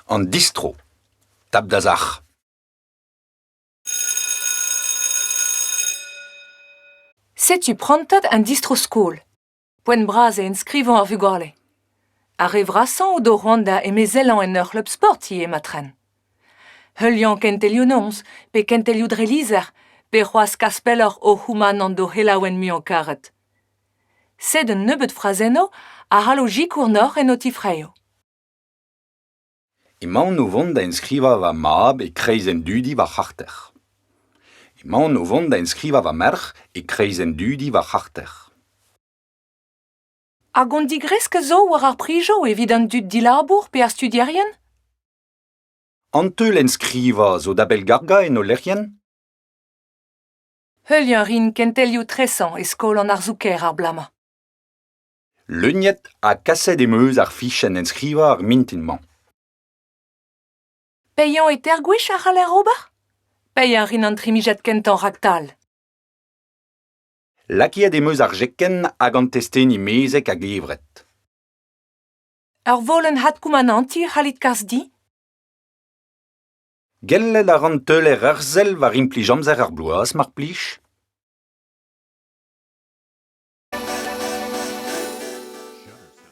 An distro, tap da sac'h. Setu prantad an distro-skol. Poent bras eo enskrivañ ar vugale. Ar re vrasañ o do c'hoant da emezellañ en ur c'hleub sport ivez ma tren. Heuliañ kentelioù noz, pe kentelioù dre lizher, pe c'hoazh kas pelloc'h o c'houmanant d'o c'helaouenn muiañ karet. Sed un nebeud frazennoù a c'hallo sikour deoc'h en ho tifraeoù. Emaon o vont da enskrivañ va mab e-kreiz an dudi war c'harter. Emaon o vont da enskrivañ va merc'h e-kreiz an dudi war c'harter. Hag on digresk zo war ar prijoù evit an dud dilabour pe ar studierien? An teul enskrivañ zo da bellgargañ en ho lec'hienn ? Heuliañ a rin kentelioù tresañ e skol an arzoù-kaer ar bloaz-mañ. Leuniet ha kaset em eus ar fichenn enskrivañ ar mintin-mañ. Paeañ e teir gwech a c'haller ober? Paeañ a rin an trimijad kentañ raktal. Lakaet em eus ar jekenn hag an testeni mezek a-gevret. Ur volenn adkoumanantiñ a c'hallit kas din? Gellet a ran teuler ur sell war implij amzer ar bloaz, mar plij.